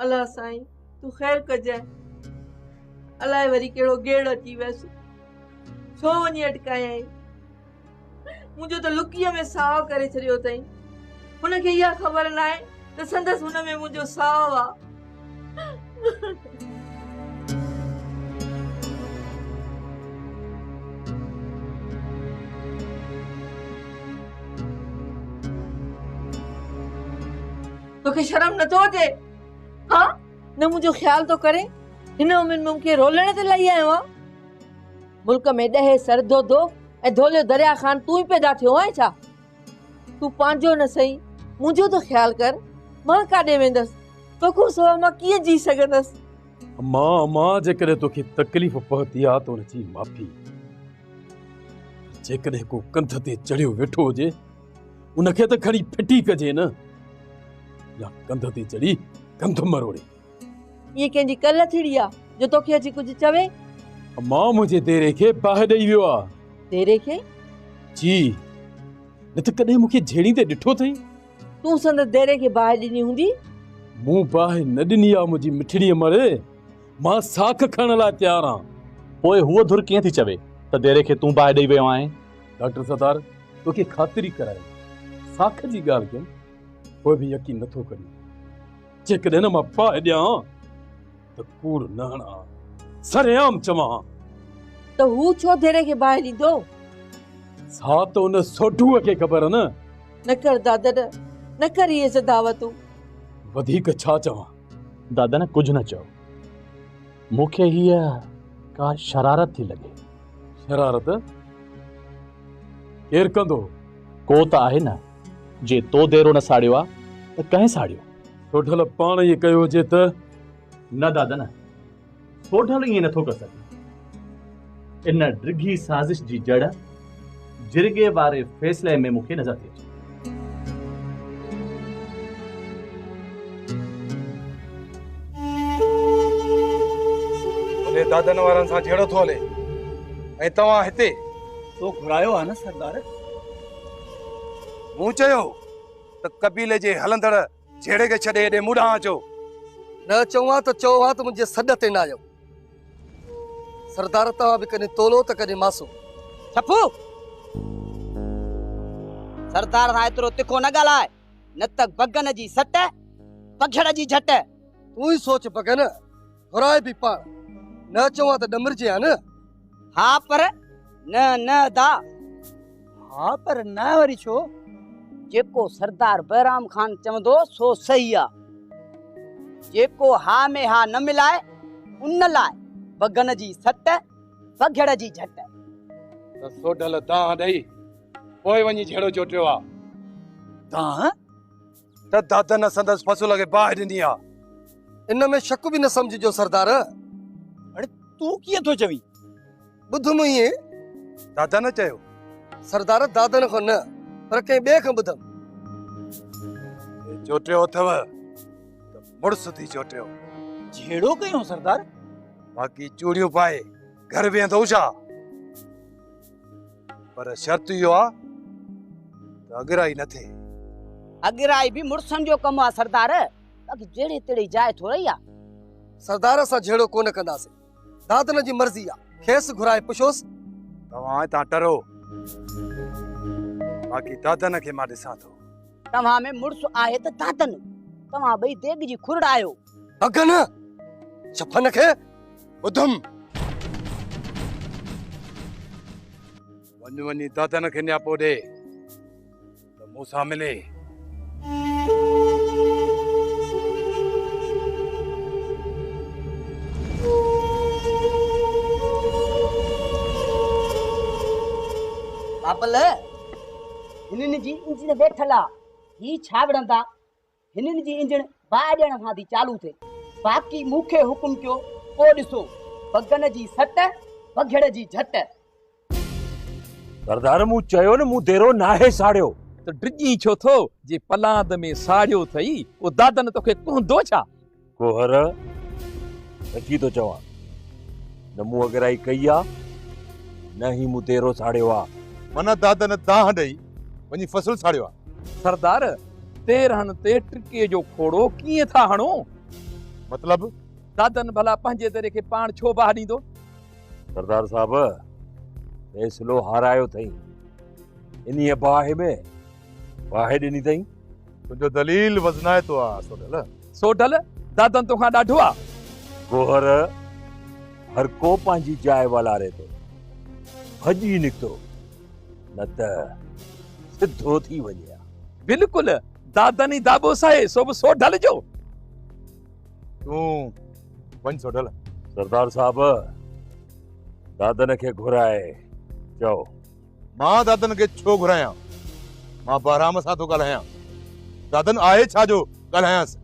الا سائين تون خير ڪجانء. الائي وري ڪهڙو گيڙ اچي ويس. ڇو وڃي اٽڪايائين. منهنجو ته لڪيء ۾ ساهه ڪري ڇڏيو اٿئين. هن کي اها خبر ناهي ته سندس هن ۾ منهنجو ساهه آ. توکي شرم نه ٿو اچي ها نه منهنجو خيال ٿو ڪري هن عمر ۾ مونکي رولڻ تي لهي آيو آهي ملڪ ۾ ڏهي سر ڌوڌو ۽ ڌوليو دريا خان تون ئي پيدا ٿيو آهين ڇا تون پنهنجو نه سهين منهنجو ته خيال ڪر. مان ڪاڏي ويندس؟ توکان سوا مان ڪيئن جي سگهندس؟ اما اما جيڪڏهن توکي تڪليف پهتي آ ته ان جي معافي. پر جيڪڏهن ڪو ڪنڌ تي چڙهيو ويٺو هجي ان کي ته کڻي ڦٽي ڪجي نه يا ڪنڌ تي چڙهي ڪنڌ مروڙي. ايئن ڪنهن جي ڪل ٿيڙي آ، جو توکي اچي ڪجهه چوي؟ امان منهنجي ديري کي باهه ڏئي ويو آ. ديري کي؟ جي، نه ته ڪڏهن مون کي جهيڙيندي ڏٺو اٿئي؟ تون سندس ديري کي باهه ڏني هوندي؟ مون باهه نه ڏني آ منهنجي مٺڙي امڙ، مان ساک کڻڻ لاء تيار آن. پوء هوء ڌر ڪيئن ٿي چوي ته ديري کي تون باهه ڏئي ويو آهين؟ ڊاڪٽر ستار، توکي خاطري ڪرائي ساک جي ڳالهه ڪيم، پوء به يقين نه ٿو ڪرين. جيڪڏهن نه مان ڦاهه ڏيان ته ڪوڙ نه هڻان، سرعام چوان. ته هو ڇو ڌيري کي باهه ڏيندو؟ سا ته ان سوڍوء کي خبر نه. نه ڪر دادن، نه ڪر اهي سداوتون. وڌيڪ ڇا چوان؟ دادن ڪجهه نه چيو. مون کي هيء ڪا شرارت ٿي لڳي. شرارت ڪير ڪندو؟ ڪو ته آهي نه. جي تو ديرو نه ساڙيو آ ته ڪنهن ساڙيو؟ سوڍل، پاڻ ائين ڪيو هجي ته؟ نه دادا نه، سوڍل ائين نه ٿو ڪري سگهي. ان ڊگهي سازش جي جڙ جرڳي واري فيصلي ۾ مون کي نظر ٿي اچي. هلي دادن وارن سان جهيڙو ٿو هلي ۽ توهان هتي؟ تو گهرايو آ نه سردار. مون چيو ته قبيلي جي هلندڙ جهيڙي کي ڇڏي هيڏي مون ڏانهن اچو. نه اچو ها ته چئو ها ته منهنجي سڏ تي نه آيو. سردار توهان به ڪڏهن تولو ته ڪڏهن ماسو. ڇپو! سردار سان ايترو تکو نه ڳالهاء نه ته بگن جي سٽ، پگهڙ جي جهٽ. تون ئي سوچ بگن! گهرائي به پاڻ، نه اچون ها ته ڏمرجي ها نه؟ ها پر نه نه ادا. ها پر نه وري ڇو؟ جيڪو سردار بهرام خان چوندو سو صحيح آ. جيڪو ها ۾ ها نه ملائي ان لاء بگن جي سٽ، بگهڙ جي جهٽ. ته سوڍل دانهن ڏئي پوء وڃي جهيڙو چوٽيو آ. دانهن؟ ته دادن سندس فصل کي باهه ڏني آ. ان ۾ شڪ به نه سمجهجو سردار. هاڻي تون ڪيئن ٿو چوين؟ ٻڌ مون ائين دادن چيو. سردار دادن کان نه پر ڪنهن ٻئي کان ٻڌم. چوٽيو اٿئو ته مڙس ٿي چوٽيو. جهيڙو ڪيائون سردار. باقي چوڙيون پائي گهر ويهندئون ڇا؟ پر شرط اهو آ ته اڳرائي نه ٿئي. اڳرائي به مڙسن جو ڪم آ سردار. باقي جهڙي تهڙي جاء ٿورئي آ. سردار اسان جهيڙو ڪونه ڪنداسين. دادن جي مرضي آ. کيس گهرائي پڇوس. توهان هتان ٽرو. باقي دادن کي مان ڏسان ٿو. توهان ۾ مڙس آهي ته دادن. توهان ٻئي ديڳ جي کورڙا آهيو. اگهه نه چپن کي ٻڌم. وڃ وڃي دادن کي نياپو ڏي ته مون سان ملي. بابل هنن جي انجڻ ويٺل آ هي ڇا وڙهندا. هنن جي انجڻ باهه ڏيڻ سان ٿي چالو ٿئي. باقي مون کي حڪم ڪيو پوء ڏسو، بگن جي سٽ، بگهڙ جي جهٽ. سردار مون چيو نه مون ديرو ناهي ساڙيو. تون ڊڄين ڇو ٿو، جي پلاند ۾ ساڙيو اٿئي، او دادن توکي ڪهندو ڇا؟ گوهر سچي ٿو چوان نه مون اڳرائي ڪئي آ نه هي مون ديرو ساڙيو آ. منا داد نه دانهن ڏئي وڃي فصل ساڙيو آ. سردار تيرهن تي ٽڪي جو کوڙو ڪيئن ٿا هڻو؟ مطلب؟ دادن ڀلا پنهنجي ديري کي پاڻ ڇو باهه ڏيندو؟ سردار صاحب فيصلو هارايو ٿئي انهيء باهه ۾ باهه ڏني ٿئي. تنهنجو دليل وزنائتو آ سوڍل. سوڍل، دادن توکان ڏاڍو آ. گوهر، هر ڪو پنهنجي جاء والاري ٿو. ڀڄي نڪتو، نه ته سڌو ٿي وڃي ها. بلڪل، دادن ئي داٻو سهي، سو به سوڍل جو. تون وڃ سوڍل. سردار صاحب، دادن کي گهرائي چئو. مان دادن کي ڇو گهرايان؟ مان بهرام سان ٿو ڳالهايان. دادن آهي ڇا جو ڳالهايانس؟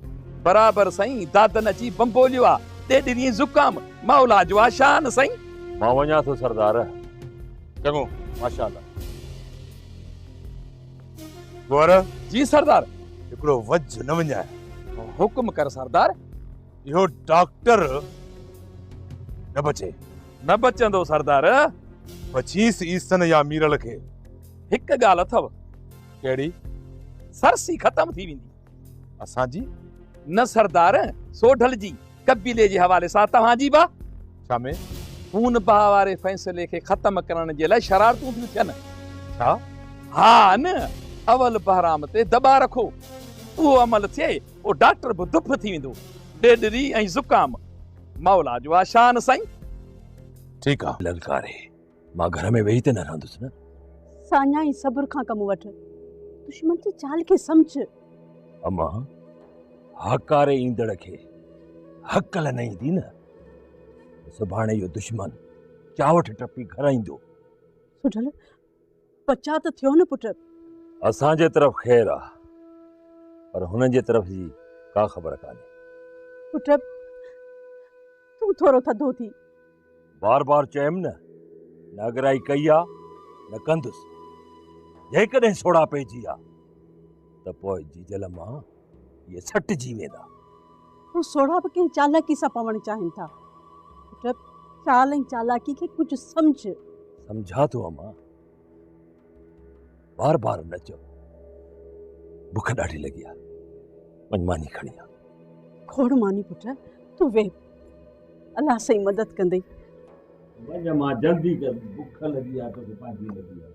برابر سائين، دادن اچي بنبوليو آ، ڏي ڏني زڪام، مولا جو آ شان سائين. مان وڃان ٿو سردار. چڱو، ماشاء الله. گوهر! جي سردار. هڪڙو وجهه نه وڃاء. حڪم ڪر سردار. اهو ڊاڪٽر نه بچي نه بچندو سردار بچيس عيسن يا ميرل کي هڪ ڳالهه اٿو ڪهڙي سرسي ختم ٿي ويندي اسان جي نه سردار سوڍل جي قبيلي جي حوالي سان توهان جي با ڇا ۾ خون بها واري فيصلي کي ختم ڪرڻ جي لاء شرارتون ٿيون ٿين ڇا ها نه اول بهرام تي دٻا رکو اهو عمل ٿئي او ڊاڪٽر به دڦ ٿي ويندو. ڏيڏري ۽ زڪام مولا جو آ شان سائين. ٺيڪ آ للڪاري مان گهر ۾ ويهي ته نه رهندس نه. ساڃاهي صبر کان ڪم وٺ دشمن جي چال کي سمجهه. اما هاڪاري ايندڙ کي هڪل نه ايندي نه سڀاڻي اهو دشمن چاوٺ ٽپي گهر ايندو. سڍل بچاء ته ٿيو نه پٽ. اسان جي طرف خير آ پر هنن جي طرف جي ڪا خبر ڪانهي. پٽ تون ٿورو ٿڌو ٿي. بار بار چيم نه نه اڳرائي ڪئي آ نه ڪندس. جيڪڏهن سوڙها پئجي آ ته پوء جيجل مان. اهي سٽجي ويندا. هو سوڙها به ڪنهن چالاڪي سان پوڻ چاهين ٿا. پٽ، چال ۽ چالاڪي کي ڪجهه سمجهه. سمجهان ٿو اما. بار بار نه چئو. بک ڏاڍي لڳي آهي. وڃ ماني کڻي آ. کوڙ ماني پٽ، تون ويهه. الله سائين مدد ڪندئي. وڃ اما جلدي ڪر. بک لڳي آهي توکي پنهنجي لڳي آهي.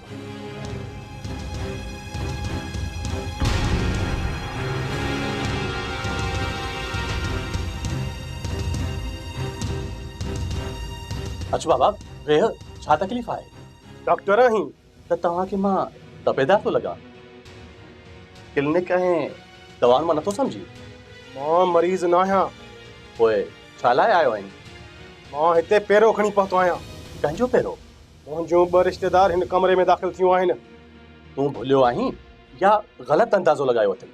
اچ بابا ويهه ڇا تڪليف آهي ڊاڪٽر آهين ته توهان کي مان تپيدار ٿو لڳان ڪلنڪ ۽ دوائن مان نٿو سمجهي مان مريض نه آهيان پوء ڇا لاء آيو آهين مان هتي پيرو کڻي پهتو آهيان ڪنهن جو پيرو منهنجون ٻه رشتيدار هن ڪمري ۾ داخل ٿيون آهن. تون ڀليو آهين يا غلط اندازو لڳايو اٿئي؟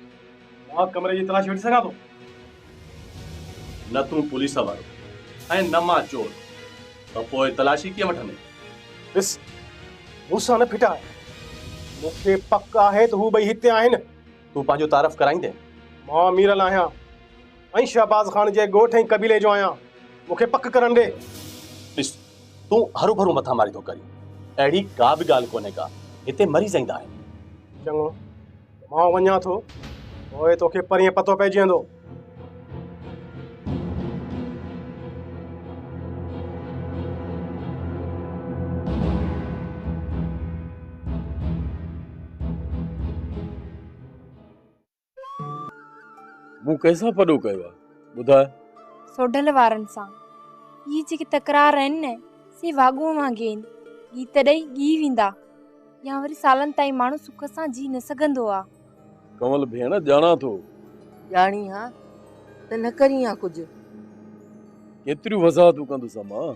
مان ڪمري جي تلاشي وٺي سگهان ٿو؟ نه تون پوليس وارو ۽ نه مان چور ته پوء تلاشي ڪيئن وٺندين؟ ڏس، مون سان نه ڦٽاء. مون کي پڪ آهي ته هو ٻئي هتي آهن. تون پنهنجو تعارف ڪرائيندين؟ مان ميرل آهيان. ۽ شهباز خان جي ڳوٺ ۽ قبيلي جو آهيان، مون کي پڪ ڪرڻ ڏي. ڏس، تون هروڀرو مٿا ماري ٿو ڪرين، اهڙي ڪا به ڳالهه ڪونهي ڪا، هتي مريض ايندا آهن. چڱو، مان وڃان ٿو، پوء توکي پرينء پتو پئجي ويندو. مون ڪنهن سان پڏو ڪيو آهي؟ ٻڌاء. سوڍل وارن سان. هي جيڪي تڪرار آهن نه، سي واڳون وانگي آهن، ڳيت ڏئي ڳهي ويندا. يا وري سالن تائين ماڻهو سک سان جيئي نه سگهندو آ. ڪنول ڀيڻ، ڄاڻان ٿو. ڄاڻين ها ته نه ڪرين ها ڪجهه. ڪيتريون وضاحتون ڪندس امان.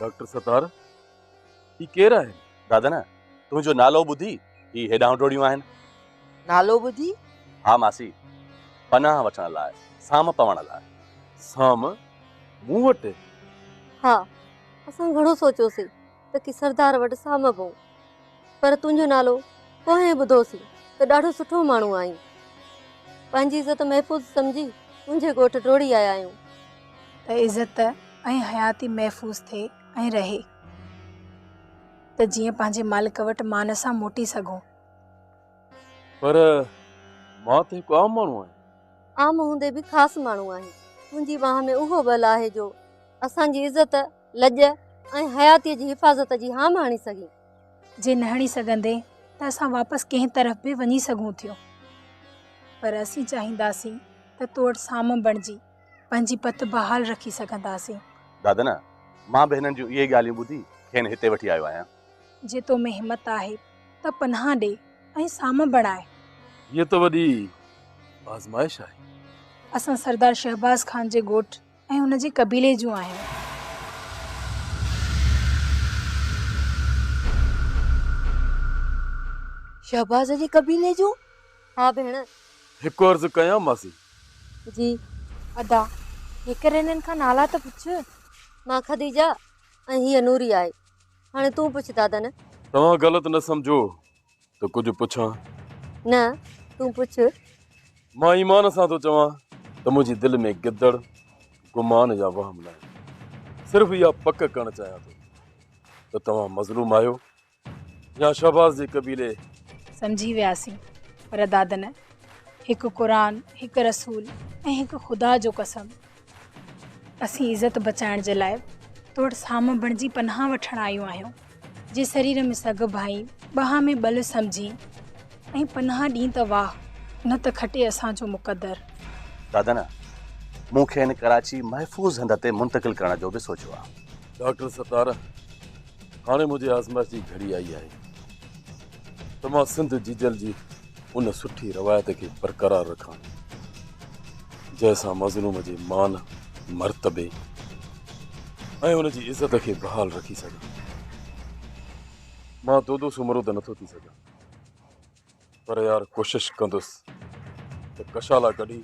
ڊاڪٽر ستار هي ڪير آهن؟ دادن تنهنجو نالو ٻڌي هي هيڏانهن ڊوڙيون آهن. نالو ٻڌي؟ ها ماسي پناهه وٺڻ لاء سام پوڻ لاء. سام مون وٽ؟ ها اسان گهڻو سوچيوسين. ته ڪي سردار وٽ سامبو پر تنهنجو نالو پوئين ٻڌوسين ته ڏاڍو سٺو ماڻهو آهين. پنهنجي عزت محفوظ سمجهي تنهنجي ڳوٺ ڊوڙي آيا آهيون. ته عزت ۽ حياتي محفوظ ٿئي ۽ رهي ته جيئن پنهنجي مالڪ وٽ مان سان موٽي سگهون. پر مان ته هڪ عام ماڻهو آهيان. عام هوندي به خاص ماڻهو آهين. تنهنجي ٻانهن ۾ اهو ٻل آهي جو اسان جي عزت. لڄ ۽ حياتيء جي حفاظت جي هام هڻي سگهين. جي نه هڻي سگهندين ته اسان واپس ڪنهن طرف به وڃي سگهون ٿيون. پر اسين چاهينداسين ته تو وٽ سام بڻجي پنهنجي پت بحال رکي سگهنداسين. دادنا، مان به هنن جون اهي ئي ڳالهيون ٻڌي کين هتي وٺي آيو آهيان. جي تو ۾ همت آهي ته پناهه ڏي ۽ سام بڻاء. هيء ته وڏي آزمائش آهي. اسان سردار شهباز خان جي ڳوٺ ۽ ان جي قبيلي جون آهن. شهباز جي قبيلي جون؟ ها ڀيڻ. هڪ عرض ڪيان ماسي؟ جي ادا. هيڪر هنن کان نالا ته پڇ. مان خديجه ۽ هيء نوري آهي. هاڻي تون پڇ دادن. توهان غلط نه سمجهو. ته ڪجهه پڇان؟ نه، تون پڇ. مان ايمان سان ٿو چوان ته منهنجي دل ۾ گدڙ، گمان يا وهم ناهي. صرف اها پڪ ڪرڻ چاهيان ٿو ته توهان مظلوم آهيو يا شهباز جي قبيلي. سمجهي وياسين، پر دادنه! هڪ قرآن، هڪ رسول ۽ هڪ خدا جو قسم اسين عزت بچائڻ جي لاء توڙ سام بڻجي پناهه وٺڻ آيون آهيون جي سرير ۾ سگهه ڀائي ٻانهن ۾ ٻل سمجهين ۽ پناهه ڏين ته واهه نه ته کٽي اسان جو مقدر. دادن، مون کي هن ڪراچي محفوظ هنڌ تي منتقل ڪرڻ جو به سوچيو آهي. ڊاڪٽر ستار، هاڻي منهنجي آزمائش جي گهڙي آئي آهي. ته مان سنڌ جيجل جي ان سٺي روايت کي برقرار رکان جنهن سان مظلوم جي مان مرتبي ۽ ان جي عزت کي بحال رکي سگهان مان دودو سومرو ته نٿو ٿي سگهان پر يار ڪوشش ڪندس ته ڪشالا ڪڍي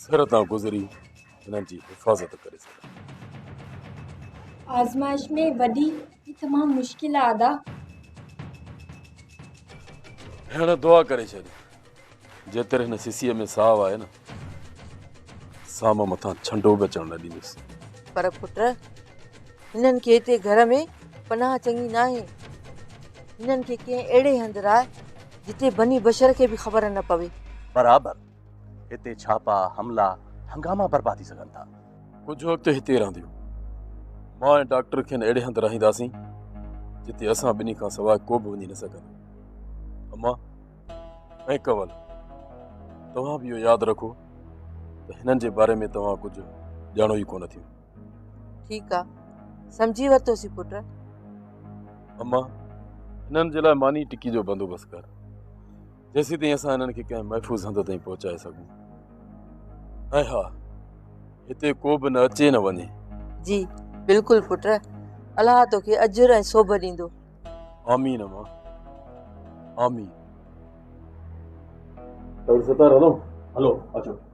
سر تان گذري انهن جي حفاظت ڪري سگهن. آزمائش ۾ وڏي ۽ تمام مشڪل آ ادا. ڀيڻ دعا ڪري ڇڏ جيتر هن سسيء ۾ ساهه آهي نه سام مٿان ڇنڊو به اچڻ نه ڏيندس. پر پٽ هنن کي هتي گهر ۾ پناهه چڱي ناهي. هنن کي ڪنهن اهڙي هنڌ راهه جتي بني بشر کي به خبر نه پوي. برابر. هتي ڇاپا، حملا، هنگاما برپا ٿي سگهن ٿا. ڪجهه وقت هتي رهنديون. مان ۽ ڊاڪٽر کين اهڙي هنڌ رهائينداسين، جتي اسان ٻنهي کان سواء ڪو به وڃي نه سگهندو. امان ۽ ڪنول، توهان به اهو ياد رکو ته هنن جي باري ۾ توهان ڪجهه ڄاڻو ئي ڪونه ٿيون. ٺيڪ آ، سمجهي ورتوسين پٽ. امان، هنن جي لاء ماني ٽڪي جو بندوبست ڪر. جيسين تائين اسان انهن کي ڪنهن محفوظ هنڌ تائين پهچائي سگهون ۽ ها هتي ڪو به نه اچي نه وڃي جي بلڪل پٽ الله توکي اجر ۽ سوڀ ڏيندو آمين اما آمين ستار هلو هلو اچو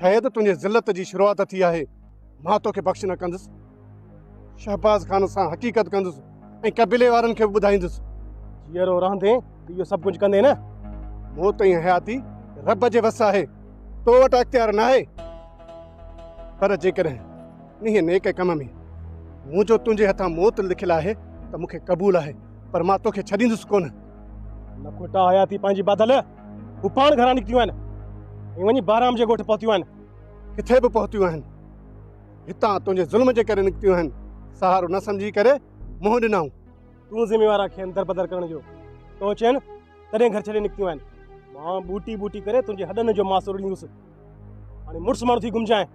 شايد تنهنجي ذلت جي شروعات ٿي آهي، مان توکي بخش نه ڪندس. شهباز خان سان حقيقت ڪندس ۽ قبيلي وارن کي به ٻڌائيندس. جيئرو رهندين ته اهو سڀ ڪجهه ڪندين نه؟ موت ۽ حياتي رب جي وس آهي، تو وٽ اختيار ناهي. پر جيڪڏهن انهيء نيڪ ڪم ۾ منهنجو تنهنجي هٿان موت لکيل آهي ته مون کي قبول آهي، پر مان توکي ڇڏيندس ڪونه. لکوٽا حياتي پنهنجي باڌل. هو پاڻ گهران نڪتيون آهن ۽ وڃي بهرام جي ڳوٺ پهتيون آهن. ڪٿي به پهتيون آهن، هتان تنهنجي ظلم جي ڪري نڪتيون آهن، سهارو نه سمجهي ڪري منهن ڏنائون. تون ذميوار آهين کين دربدر ڪرڻ جو، تون چين تڏهن گهر ڇڏي نڪتيون آهن. مان ٻوٽي ٻوٽي ڪري تنهنجي هڏن جو ماس رڙيندس. هاڻي مڙس ماڻهو ٿي گهمجانء.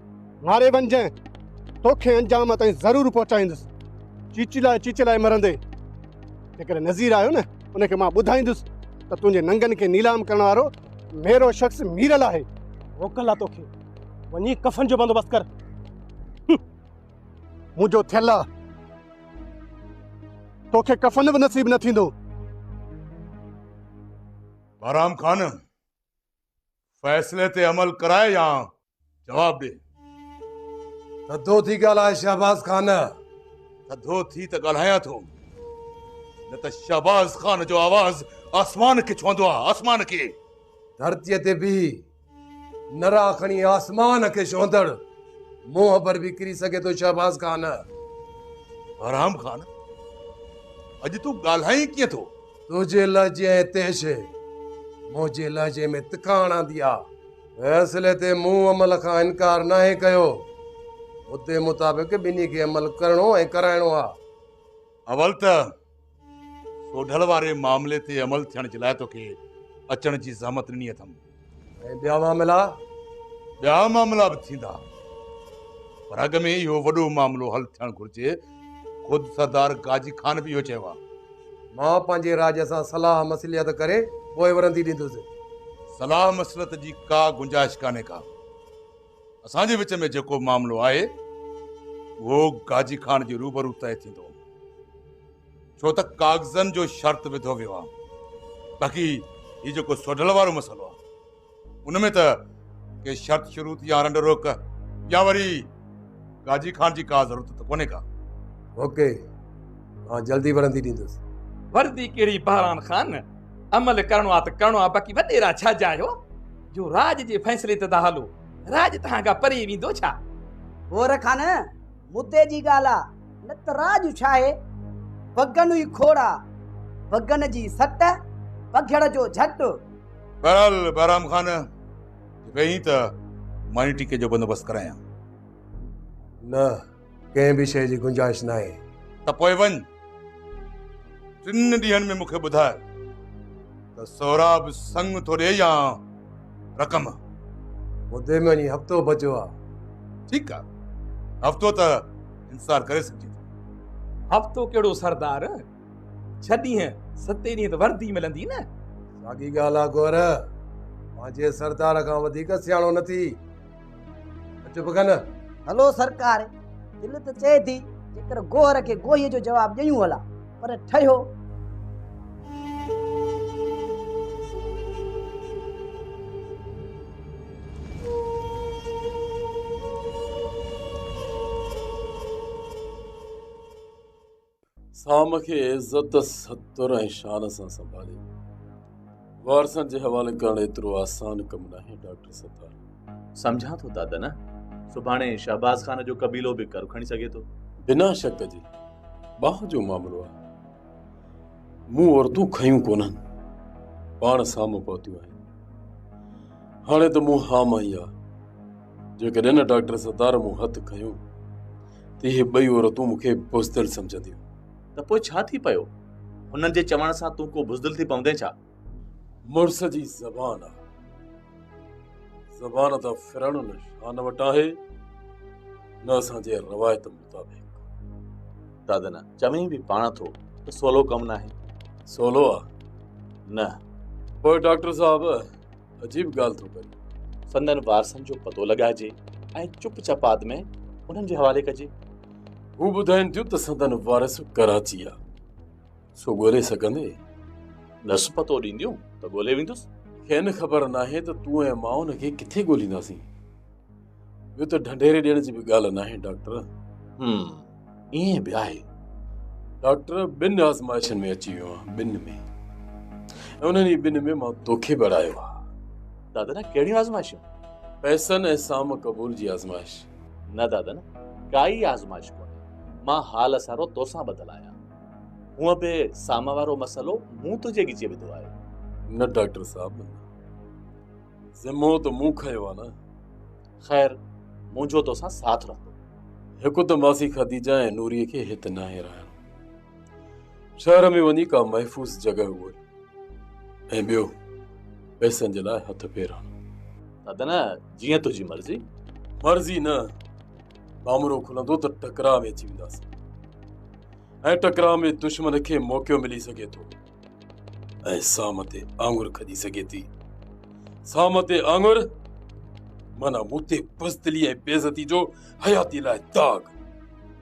ماري وڃجانء. توکي انجام تائين ضرور پهچائيندس. چيچلائي چيچلائي مرندين. جيڪڏهن نذير آيو نه ان کي مان ٻڌائيندس ته تنهنجي ننگن کي نيلام ڪرڻ وارو ميرو شخص ميرل آهي. موڪل آ توکي. وڃي ڪفن جو بندوبست ڪر. منهنجو ٿيل آ. توکي ڪفن به نصيب نه ٿيندو. بهرام خان، فيصلي تي عمل ڪرائي يا جواب ڏي. ٿڌو ٿي ڳالهاء شهباز خان. ٿڌو ٿي ته ڳالهايان ٿو نه ته شهباز خان جو آواز آسمان کي ڇهندو آهي آسمان کي. ڌرتيء تي بيهي نرا کڻي آسمان کي ڇهندڙ منهن پر به ڪري سگهي ٿو شهباز خان. بهرام خان اڄ تون ڳالهائين ڪيئن ٿو؟ تنهنجي لهجي ۽ تيشي منهنجي لهجي ۾ تکاڻ آندي آ. فيصلي تي مون عمل کان انڪار ناهي ڪيو. مدي مطابق ٻنهي کي عمل ڪرڻو ۽ ڪرائڻو آ. اول ته سوڍل واري معاملي تي عمل ٿيڻ جي لاء توکي اچڻ جي زحمت ڏني اٿم. ۽ ٻيا معاملا ٻيا معاملا به ٿيندا پر اڳ ۾ اهو وڏو معاملو حل ٿيڻ گهرجي خود سردار قاضي خان به اهو چيو آهي مان پنهنجي راڄ سان صلاح مصلحت ڪري پوء ورندي ڏيندس صلاح مصلحت جي ڪا گنجائش ڪانهي ڪا اسان جي وچ ۾ جيڪو معاملو آهي اهو قاضي خان جي روبرو طئي ٿيندو ڇو ته ڪاغذن جو شرط وڌو ويو آهي باقي هي جيڪو سوڍل وارو مسئلو آهي ان ۾ ته ڪي شرط شروط يا رنڊ روڪ يا وري گاجي کان جي ڪا ضرورت ته ڪونهي ڪا اوڪي مان جلدي ورندي ڏيندس وردي ڪهڙي بهران خان عمل ڪرڻو آهي ته ڪرڻو آهي باقي وڏيرا ڇا جا آهيو جو راڄ جي فيصلي تي ٿا هلو راڄ توهان کان پري ويندو ڇا؟ گور خان مدي جي ڳالهه آ، نه ته راء جو ڇاهي؟ بگن ئي کوڙ آ، بگن جي سٽ، بگهڙ جو جهٽ. بهرحال بهرام خان، جي ويهين ته ماني ٽيڪي جو بندوبست ڪرايان. نه، ڪنهن به شيء جي گنجائش ناهي. ته پوء وڃ. ٽن ڏينهن ۾ مون کي ٻڌاء ته سهراب سڱ ٿو ڏي يا رقم. مدي ۾ اڃي هفتو بچيو آ. ٺيڪ آ هفتو ته انتظار ڪري سگهجي ٿو. هفتو ڪهڙو سردار، ڇهه ڏينهن ستين ڏينهن ته وردي ملندي نه. ساڳي ڳالهه آ گور، پنهنجي سردار کان وڌيڪ سياڻو نه ٿي. چپ ڪن هلو سرڪار دل ته چئي ٿي جيڪر گوهر کي گوهي جو جواب ڏيون هلا پر ٺهيو سام کي عزت، ستر ۽ شان سان سنڀالي وارثن جي حوالي ڪرڻ ايترو آسان ڪم ناهي ڊاڪٽر ستار. سمجهان ٿو دادا نه سڀاڻي شهباز خان جو قبيلو به ڪر کڻي سگهي ٿو. بنا شڪ جي ٻانهه جو معاملو آهي. مون عورتون کنيون ڪونهن پاڻ سام پهتيون آهن. هاڻي ته مون هام آئي آ جيڪڏهن ڊاڪٽر ستار مون هٿ کنيو ته اهي ٻئي عورتون مون کي بزدل سمجهنديون. ته پوء ڇا ٿي پيو؟ هنن جي چوڻ سان تون ڪو بزدل ٿي پوندين ڇا؟ مڙس جي زبان آ. زبان ته ڦرڻ نه شان وٽ آهي، نه اسان جي روايت مطابق. دادا نه چوين به پاڻ ٿو ته سولو ڪم ناهي. سولو آ؟ نه. پوء ڊاڪٽر صاحب! عجيب ڳالهه ٿو ڪري سندن وارثن جو پتو لڳائجي ۽ چپ چپاد ۾ انهن جي حوالي ڪجي هو ٻڌائين ٿيون ته سندن وارث ڪراچي آ سو ڳولي سگهندي ڏس پتو ڏينديون ته ڳولي ويندس کين خبر ناهي ته تون ۽ مان ان کي ڪٿي ڳولينداسين ٻيو ته ڍنڍيري ڏيڻ جي به ڳالهه ناهي ڊاڪٽر هم ائين به آهي ڊاڪٽر ٻن آزمائشن ۾ اچي ويو آهي ٻن ۾ انهن جي ٻن ۾ مان توکي به اڙايو آهي دادا نه ڪهڙيون آزمائشون پيسن ۽ سام قبول جي آزمائش نه دادا نه ڪائي آزمائش ڪونهي مان حال سارو توسان ٻڌل آهيان هونء به سام وارو مسئلو مون تنهنجي ڳچي وڌو آهي نه ڊاڪٽر صاحب ذمو ته مون کنيو آ نه. خير منهنجو توسان ساٿ رهندو. هڪ ته ماسي خديجه ۽ نوريء کي هت ناهي رهڻ. شهر ۾ وڃي ڪا محفوظ جڳهه ڳول ۽ ٻيو پئسن جي لاء هٿ پير هڻ. دادا نه جيئن تنهنجي مرضي. مرضي نه ڀامرو کلندو ته ٽڪراء ۾ اچي وينداسين ۽ ٽڪراء ۾ دشمن کي موقعو ملي سگهي ٿو. ۽ سام تي آڱر کڄي سگهي ٿي. سام تي آڱر معنيٰ مون تي بزدلي ۽ بيعزتي جو حياتيء لاء داغ.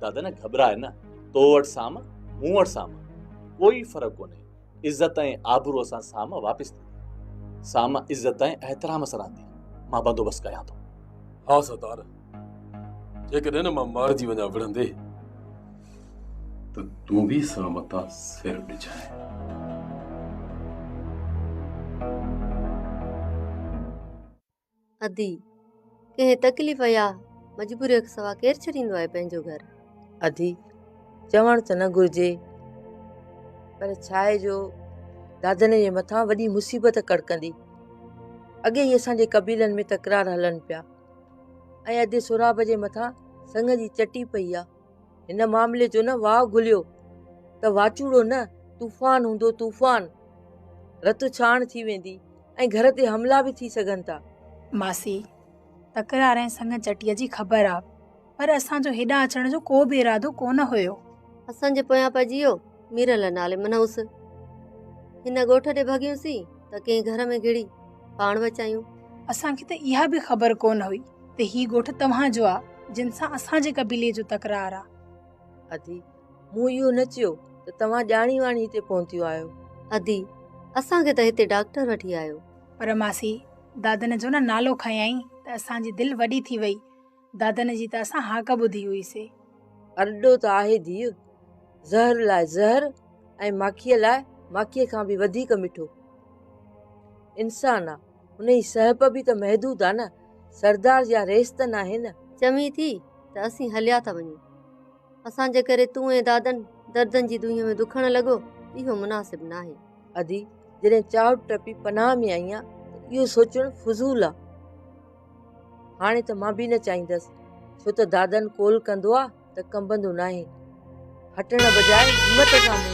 دادا نه گهٻراء نه، تو وٽ سام، مون وٽ سام، ڪوئي فرق ڪونهي، عزت ۽ آبروء سان سام واپس ٿيندي. سام عزت ۽ احترام سان رهندي، مان بندوبست ڪيان ٿو. ها سردار! جيڪڏهن مان مارجي وڃان وڙهندي ته تون به سان متان سر ڏجانء. ادي، ڪنهن تڪليف يا مجبوريء کان سوا ڪير ڇڏيندو آهي پنهنجو گهر؟ ادي، چوڻ ته نه گهرجي پر ڇاهي جو دادن جي مٿان وڏي مصيبت ڪڙڪندي. اڳي ئي اسان جي قبيلن ۾ تڪرار هلن پيا. ۽ ادي سهراب جي مٿان سڱ جي چٽي پئي آ. هن معاملي جو نه واء گهليو ته واچوڙو نه طوفان هوندو طوفان. رت ڇاڻ ٿي ويندي ۽ گهر تي حملا به ٿي سگهن ٿا. ماسي، تڪرار ۽ سڱ چٽيء جي خبر آ، پر اسان جو هيڏانهن اچڻ جو ڪو به ارادو ڪونه هيو. اسان جي پويان پئجي ويو. ميرل نالي منهوس. هن ڳوٺ ڏي ڀڳيونسين ته ڪنهن گهر ۾ گهڙي پاڻ بچايون. اسان کي ته اها به خبر ڪونه هئي ته هي ڳوٺ توهان جو آ جن سان اسان جي قبيلي جو تڪرار آ. ادي، مون اهو نه چيو ته توهان ڄاڻي واڻي هتي پهتيون آهيو. ادي، اسان کي ته هتي ڊاڪٽر وٺي آيو. پر ماسي، دادن جو نه نالو کنيائين ته اسان جي دل وڏي ٿي وئي. دادن جي ته اسان هاڪ ٻڌي هئي سي. ارڏو ته آهي ڌيء، زهر لاء زهر ۽ ماکيء لاء ماکيء کان به وڌيڪ مٺو انسان آ. ان جي سهپ به ته محدود آ نه، سردار جا ريس ته ناهي نه. چوين ٿي ته اسين هليا ٿا وڃون. اسان جي ڪري تون ۽ دادن دردن جي دونهين ۾ دکڻ لڳو، اهو مناسب ناهي. ادي، جڏهن چاهت ٽپي پناهه ۾ آئين آ ته اهو سوچڻ فضول آ. هاڻي ته مان به نه چاهيندس، ڇو ته دادن قول ڪندو آ ته ڪنبندو ناهي. هٽڻ بجاء همت سان مون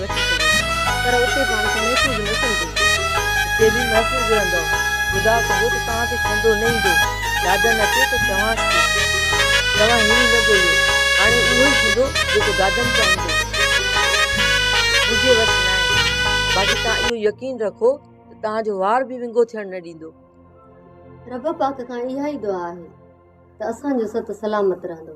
وٺي سگهي ٿا پر اتي پاڻ کي محفوظ نه سمجهي ٿي. اتي به محفوظ رهندؤ. خدا ڪندو ته توهان کي ڇنڊو نه ايندو. دادن اچي ته چوانس ٿي توهان هيڻي نه ڳوليو. هاڻي اهو ئي ٿيندو جيڪو دادن چاهيندو. منهنجي وس ناهي. باقي توهان اهو يقين رکو ته توهان جو وار به ونگو ٿيڻ نه ڏيندو. رب پاڪ کان اها ئي دعا آهي ته اسان جو ست سلامت رهندو.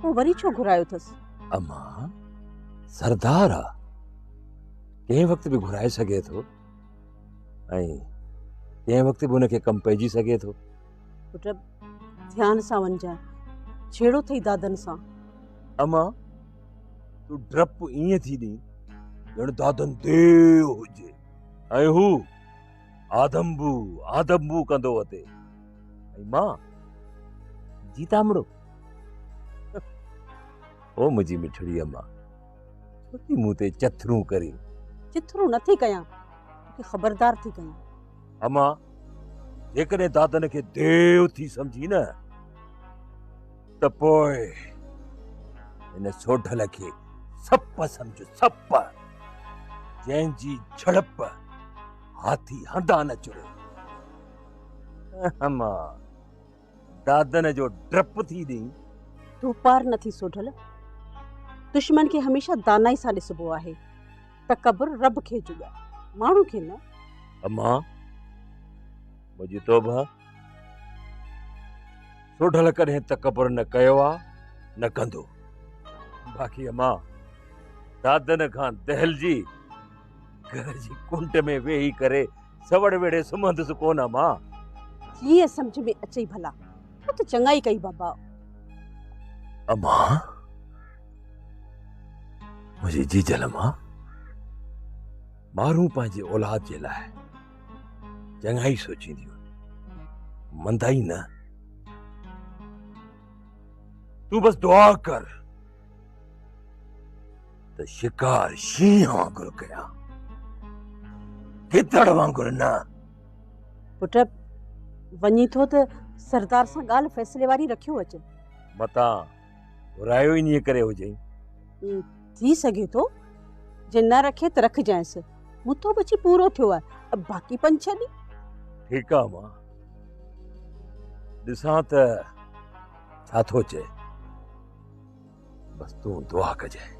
پوء وري ڇو گهرايو اٿس؟ امان سردار آ ڪنهن وقت به گهرائي سگهي ٿو ۽ ڪنهن وقت به ان کي ڪم پئجي سگهي ٿو پٽ ڌيان سان وڃجانء جهيڙو ٿئي دادن سان امان تون ڊپ ائين ٿي ڏين ڄڻ دادن ديو هجي ۽ هو آدم بو آدم بو ڪندو وتي ۽ مان جيتامڙو او منهنجي مٺڙي اما ڇو ٿي مون تي چٿرون ڪرين چٿرون نه ٿي ڪيان توکي خبردار ٿي ڪيان اما جيڪڏهن دادن کي ديو ٿي سمجهي نه ته پوء هن سوڍل کي سپ سمجهه، سپ، جنهن جي جهڙپ هاٿي هنڌان نه چري. اما دادن جو ڊپ ٿي ڏئين. تون پار نه ٿي سوڍل. دشمن کي هميشه دانائي سان ڏسبو آهي. تڪبر رب کي جڳائي، ماڻهو کي نه. اما منهنجي توبه. سوڍل ڪڏهن تڪبر نه ڪيو آ نه ڪندو. باقي امان دادن کان دهلجي گهر جي ڪنڊ ۾ ويهي ڪري سوڙ ويڙهي سمهندس ڪونه امان. جيئن سمجهه ۾ اچئي ڀلا. تو ته چڱائي ڪئي بابا. امان منهنجي جيجل امان مارون پنهنجي اولاد جي لاء. چڱائي سوچيندي وڃ مندائي نه تون بس دعا ڪر ته شڪار شينهن وانگر ڪيان گدڙ وانگر نه پٽ وڃي ٿو ته سردار سان ڳالهه فيصلي واري رکيو اچ متان گهرايو انهيء ڪري هجئي. ٿي سگهي ٿو، جي نه رکي ته رکجانئس. مون تو به اچي پورو ٿيو آهي، باقي پنج ڇهه ڏينهن. ٺيڪ آهي ماء، ڏسان ته ڇا ٿو چئي. بس تون دعا ڪجانء،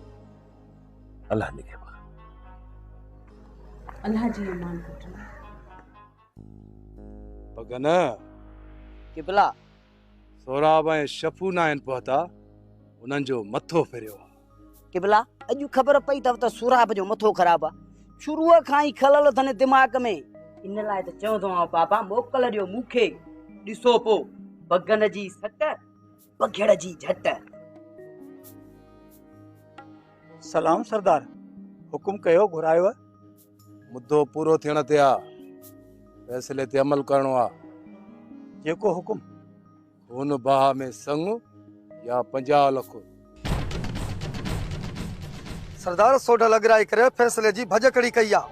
الله نگهبان. الله جي امان پٽ. پڳ نه. قبلا! سهراب ۽ شفو ناهن پهتا، انهن جو مٿو ڦريو آ. قبلا! اڄ خبر پئي اٿو ته سهراب جو مٿو خراب آ. شروع کان ئي خلل اٿن دماغ ۾. ان لاء ته چوندومانو بابا موڪل ڏيو مون کي. ڏسو پو بگن جي سٽ، بگهڙ جي جهٽ. سلام سردار! حڪم ڪيو گهرايو مدو پورو ٿيڻ تي آ فيصلي تي عمل ڪرڻو آ. جيڪو حڪم. هن باهه ۾ سڱ يا پنجاهه لک. سردار سوڍل اڳرائي ڪري فيصلي جي ڀڄڪڙي ڪئي آ.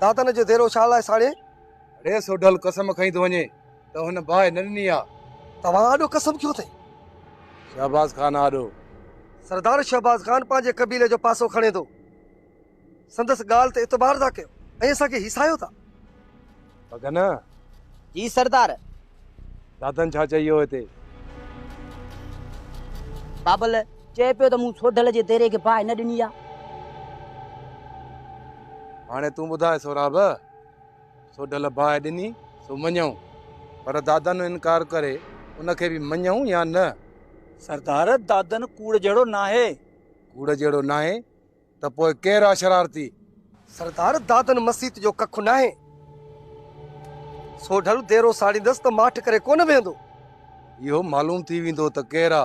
دادن جو ديرو شاهه لاء ساڙي. اڙي سوڍل قسم کئي ٿو وڃي ته هن باهه نه ڏني آ. توهان آڏو قسم کيو اٿئي. شهباز خان آڏو. سردار شهباز خان پنهنجي قبيلي جو پاسو کڻي ٿو. سندس ڳالهه تي اعتبار ٿا ڪيو ۽ اسان کي هيسايو ٿا. بگن! جي سردار! دادن ڇا چئي ويو هتي؟ بابل، چئي پيو ته مون سوڍل جي ديري کي باهه نه ڏني آهي. هاڻي تون ٻڌاء سهراب، سوڍل باهه ڏني سو مڃيون، پر دادن انڪار ڪري ان کي به مڃيون يا نه؟ سردار، دادن ڪوڙ جهڙو ناهي. ڪوڙ جهڙو ناهي ته پوء ڪير آ شرارتي؟ سردار دادن مسيت جو ڪک ناهي، سو ڍل ديرو ساڙيندس ته ماٺ ڪري ڪونه ويهندو. اهو معلوم ٿي ويندو ته ڪير آ،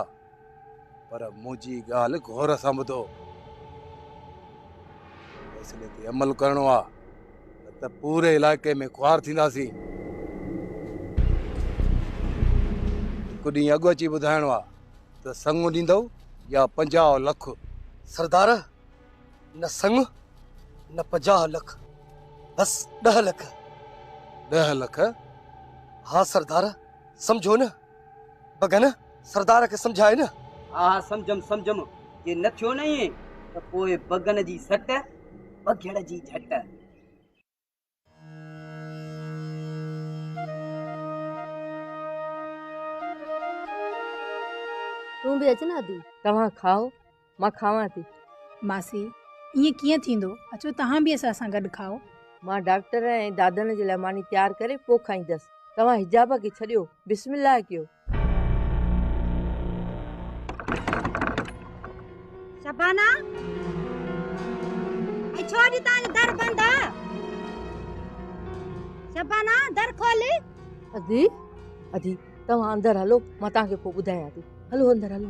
پر منهنجي ڳالهه غور سان ٻڌو. فيصلي تي عمل ڪرڻو آ، نه ته پوري علائقي ۾ خوار ٿينداسين. هڪ ڏينهن اڳ اچي ٻڌائڻو آ، ته سڱ ڏيندؤ يا پنجاهه لک. سردار! نه سڱ نه پنجاهه لک، بس ڏهه لک. ڏهه لک؟ ها سردار، سمجهو نه. بگن، سردار کي سمجهاء نه. ها ها سمجهيم سمجهيم، جي نه ٿيو نه ائين ته پوء بگن جي سٽ، بگهڙ جي جهٽ. تون به اچ نه ادي. توهان کائو مان کاوان ٿي. ماسي، ائين ڪيئن ٿيندو، اچو توهان به اسان سان گڏ کائو. مان ڊاڪٽر ۽ دادڻ جي لاء ماني تيار ڪري پوء کائيندس. توهان حجابه کي ڇڏيو، بسم الله ڪيو. شبانا اي ڇو اڄ تان در بند آ شبانا در کول ادي ادي توهان اندر هلو مان تان کي پو ٻڌايان ٿي هلو اندر هلو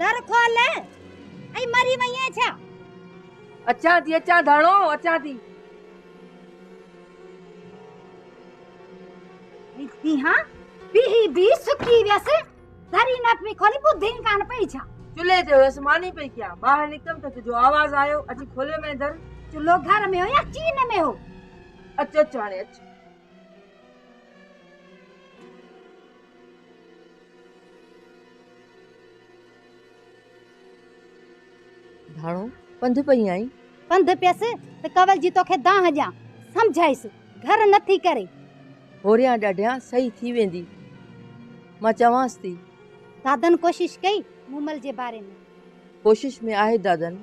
در کول ۽ مري وئين ڇا؟ اچان ٿي اچان ڌڻو اچان ٿي. ڏسين ها بيهي بي سڪي ويس دري نه پئي کولي ٻڌين ڪانه پئي ڇا؟ چلهي تي هيس ماني پئي ڪيان ٻاهر نڪتم ته تنهنجو آواز آيو اچي کوليو مين در. چلهو گهر ۾ هو يا چين ۾ هو؟ اچ اچ هاڻي اچ. ڌاڻو، پنڌ پئي آئين؟ پنڌ پيس ته ڪنول جي توکي دانهن ڏيان. سمجهائيس، گهر نه ٿي ڪري. هوريان ڏاڍيان صحيح ٿي ويندي. مان چوانس ٿي. دادن ڪوشش ڪئي مومل جي باري ۾؟ ڪوشش ۾ آهي دادن.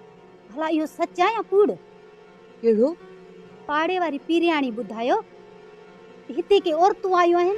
ڀلا اهو سچ آ يا ڪوڙ؟ اهڙو پاڙي واري پيرياڻي ٻڌايو ته هتي ڪي عورتون آيون آهن.